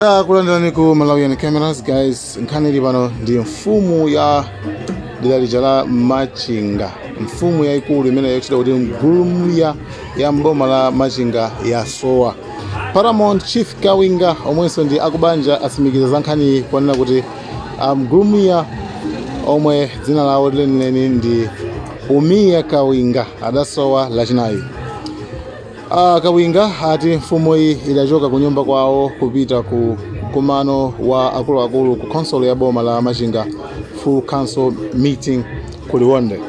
Ah, kulandirani ku malawian cameras guys nkhani ili pano ndi mfumu ya dera lija la machinga mfumu yayikulu imene yotchedwa kuti ngulumiya ya m'boma la machinga yasowa paramount chief kawinga omwenso ndi akubanja asimikiza za nkhaniyi ponena kuti ah, ngulumiya omwe dzina lawo lenileni ndi umiya kawinga adasowa lachinayi A Kawinga ati mfumuyi idachoka ku nyumba kwawo kupita ku mkumano wa akuluakulu ku khonsolo ya boma la Machinga full council meeting ku Liwonde.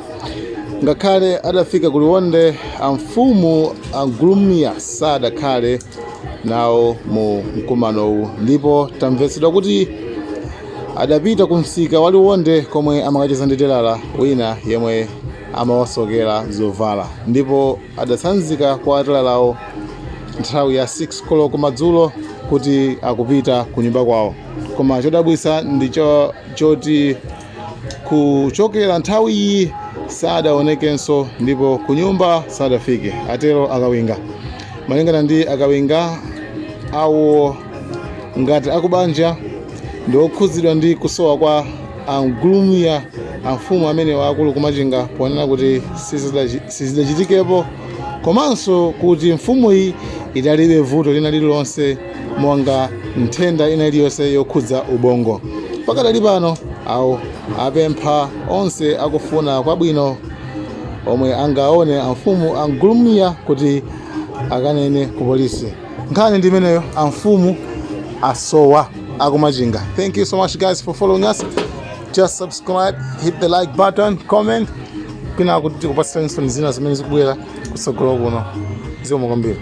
Ngakhale adafika ku Liwonde, amfumu a Ngulumiya sadakhale nawo mu mkumanowu ndipo tamvetsedwa kuti adapita ku msika wa Liwonde komwe amakacheza ndi telala wina yemwe amawasokera zovala ndipo adatsanzika kwa atelalawo nthawi ya 6 koloko madzulo kuti akupita ku nyumba kwawo koma chodabwisa ndi cho- choti kuchokera nthawi iyi sadaonekenso ndipo ku nyumba sadafike atero akawinga malingana ndi akawinga awo ngati akubanja ndi okhudzidwa ndi kusowa kwa angulumiya amfumu amene waakulu kumachinga ponena kuti sizidachi- sizidachitikepo komanso kuti mfumuyi idalibe vuto lina lililonse monga nthenda ina iliyonse yokhudza ubongo pakadali pano awo apempha onse akufuna kwabwino omwe angaone amfumu angulumiya kuti akanene ku polisi nkhani ndi imeneyo amfumu asowa akumachinga thank you so much guys for following us just subscribe hit the like button comment pina kuti tikupatsiranso zina zimene zikubwera kutsogolo kuno zikomo kwambiri